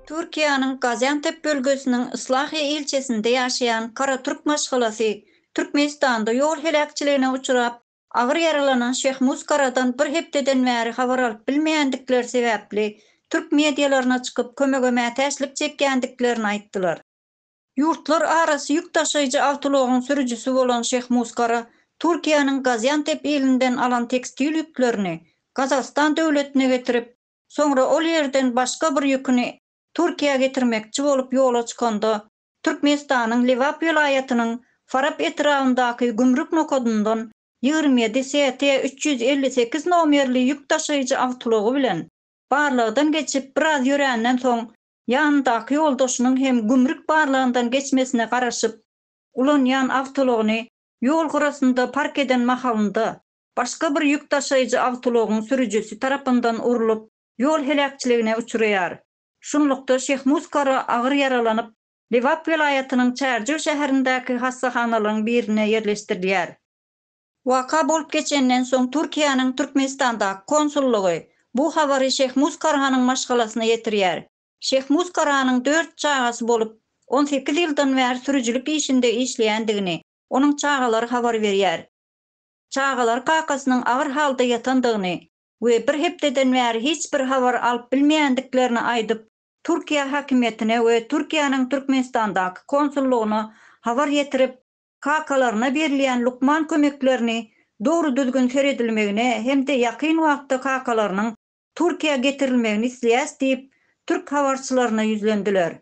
Türkiýäniň Gaziantep bölgesiniň Islahiýe ilçesinde ýaşaýan karatürk maşgalasy Türkmenistanda ýol heläkçiligine uçrap, agyr ýaralanan Şehmuz Karadan bir hepdeden bäri habar alyp bilmeýändikleri sebäpli türk medialaryna çykyp kömege mätäçlik çekýändiklerini aýtdylar. Ýurtlar arasy ýük daşaýjy awtoulagyň sürüjisi bolan Şeýh Muskara Türkiýäniň Gaziantep ilinden alan tekstil ýüklerini Gazagystan döwletine getirip, soňra ol ýerden başga bir ýüküni Türkiýä getirmekçi bolup ýola çykanda, Türkmenistanyň Lebap welaýatynyň Farap etrabyndaky gümrük nokadyndan ýigrimi ýedi ST üç ýüz elli sekiz nomerli ýük daşaýjy awtoulagy bilen barlagdan geçip biraz ýöränden soň ýanyndaky ýoldaşynyň hem gümrük barlagyndan geçmesine garaşyp, ulanýan awtoulagyny ýol gyrasynda park eden mahalynda, başga bir ýük daşaýjy awtoulagyň sürüjisi tarapyndan urlup, ýol heläkçiligine uçraýar. Şunlukda, Şehmuz Kara agyr ýaralanyp, Lebap welaýatynyň Çärjew şäherindäki hassahanalaryň birine ýerleşdirilýär. Waka bolup geçenden soň Türkiýäniň Türkmenistandaky konsullygy bu habary Şehmuz Karahanyň maşgalasyna ýetirýär. Şehmuz Karahanyň dört çagasy bolup, on sekiz ýyldan bäri sürüjilik işinde işleýändigini onuň çagalary habar berýär. Çagalary kakasynyň agyr halda ýatandygyny we bir hepdeden bäri hiç bir habar alyp bilmeýändiklerini aýdyp, Türkiýe häkimiýetine we Türkiýäniň Türkmenistandaky konsullygyna habar ýetirip, kakalaryna berilýän lukman kömeklerini dogry-düzgün seredilmegine hem-de ýakyn wagtda kakalarynyň Türkiýä getirilmegini isleýäs diýip, türk habarçylaryna ýüzlendiler.